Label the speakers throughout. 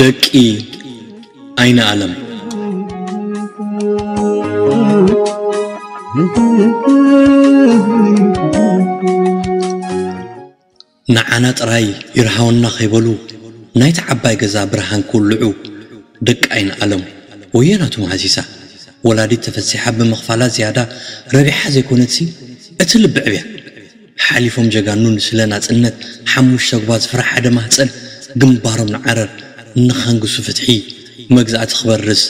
Speaker 1: ደቂ ኣይንኣለም። ንዓና ጥራይ ይርሃወና ከይበሉ ናይታ ዓባይ ገዛ ብርሃን ክውልዑ ደቂ ኣይንኣለም ወዮ ናቱ መሃሲሳ ወላዲት ተፈሲሓ ብምኽፋላ ዝያዳ ረቢሓ ዘይኮነትሲ እቲ ልቢ ዕብያ ሓሊፎም ጀጋኑ ንስለ ናጽነት ሓሙሽተ ኣጉባዝ ፍረ ሓደ ማህጸን ግንባሮም ንዓረር ንኸንግሱ ፍትሒ መግዛእቲ ክበርስ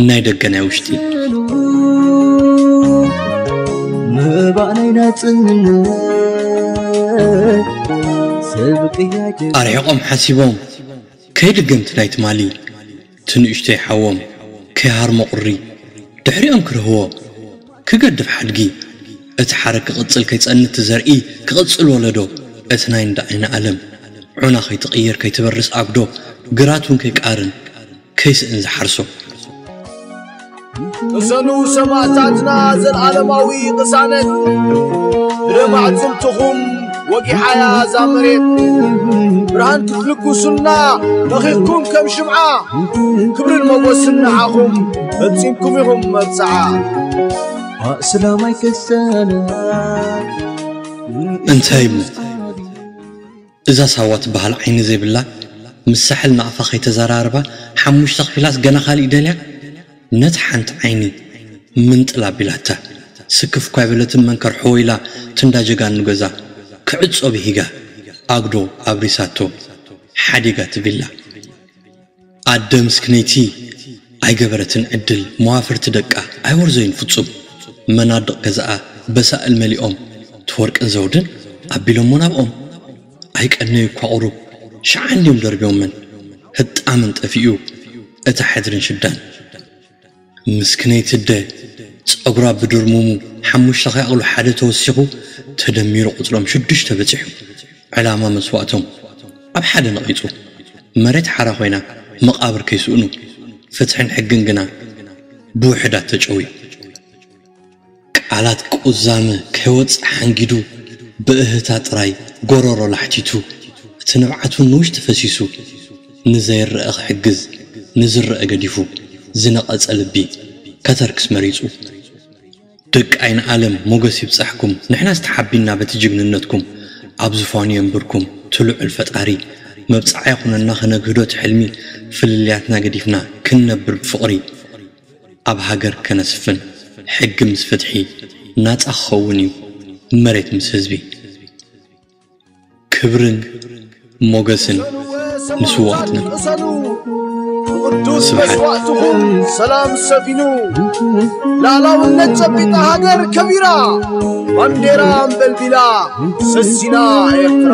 Speaker 1: ናይ ደገ ናይ ውሽጢ ስእሉ ምባእ ናይ ናጽነት ሰብ ቅያ ጀጋኑ ኣርሒቆም ሓሲቦም ከይድገምቲ ናይ ትማሊ ትንእሽቶይ ሓዎም ከይሃርሞ ቁሪ ድሕሪኦም ክርህዎ ክገድፍ ሓድጊ እቲ ሓረግ ክቅጽል ከይጸንት እቲ ዘርኢ ክቅጽል ወለዶ እቲ ናይ እንዳ ኣይንኣለም ዑና ከይትቅየር ከይትበርስ ኣጉዶ ግራት ውን ከይቃርን ከይስእን ዝሓርሶ
Speaker 2: ቅሰኑ ሰማእታትና ዘለዓለማዊ ቅሳነት ብደም ኣዕፅምትኹም ወጊሓያ እዛ መሬት ብርሃን ክትልግሱና መኺኽኩም ከም ሽምዓ ክብርን መጎስን ንዓኹም ፈጺምኩም ኢኹም መብጽዓ
Speaker 3: ኣስላማይ ክሰነ
Speaker 1: እንታይ እዛ ሳዋ ትበሃል ዓይኒ ዘይብላ ምስ ሳሕል ናቅፋ ከይተዘራረባ ሓሙሽተ ከፊላስ ገና ካሊእ ደልያ ነታ ሓንቲ ዓይኒ ምንጥል ኣቢላታ ስክፍ እኳ ኣይበለትን መንከር ሑው ኢላ ትንዳ ጀጋኑ ገዛ ክዕጾ ብሂጋ ኣጉዶ ኣብሪሳቶ ሓዲጋ እቲ ቪላ ኣደ ምስክነይቲ ኣይገበረትን ዕድል መዋፍርቲ ደቃ ኣይወርዘዩን ፍጹም መናድቕ ገዛኣ በሳእል መሊኦም ትወርቅን ዘውድን ኣቢሎሞ ናብኦም ኣይቀነዩ እኳ ቁሩብ ሽዓ እንድዮም ደርብዮመን ህጣመን ጠፊኡ እታ ሕድርን ሽዳን ምስክነይቲ ኣደ ጸጉራ ብድርሙሙ ሓሙሽተ ከይኣኽሉ ሓደ ተወሲኹ ተደሚሩ ቁጽሮም ሽዱሽተ በጺሑ። ዕላማ መስዋእቶም ኣብ ሓደ ነቒጹ። መሬት ሓራ ኮይና መቓብር ከይስእኑ ፍትሕን ሕግን ግና ብውሕዳት ተጨውዩ። ቃላት ቁዛመ ከይወጽእ ሓንጊዱ ብእህህታ ጥራይ ጎሮሮ ላሕቲቱ እቲ ንብዓቱ ንውሽጢ ፈሲሱ ንዘይረኣ ክሕግዝ ንዝረኣ ገዲፉ ዝነቐጸ ልቢ ከተርክስ መሪጹ ደቂ ኣይንኣለም ሞገስ ይብጻሕኩም ንሕናስ ተሓቢንና በቲ ጅግንነትኩም ኣብ ዝፋኑ የንብርኩም እቲ ልዑል ፈጣሪ መብጽዓ ይኹነና ክነግህዶ እቲ ሕልሚ ፍልልያትና ገዲፍና ክንነብር ብፍቕሪ ኣብ ሃገር ከነስፍን ሕጊ ምስ ፍትሒ ናጻ ክኸውን እዩ መሬት ምስ ህዝቢ ክብርን ሞገስን ንስውኣትና።
Speaker 2: ቅዱስ መስዋእትኹም ሰላም ሰፊኑ ላዕላውነት ጨቢጣ ሃገር ከቢራ ባንዴራ ኣንበልቢላ ሰሲና ኤርትራ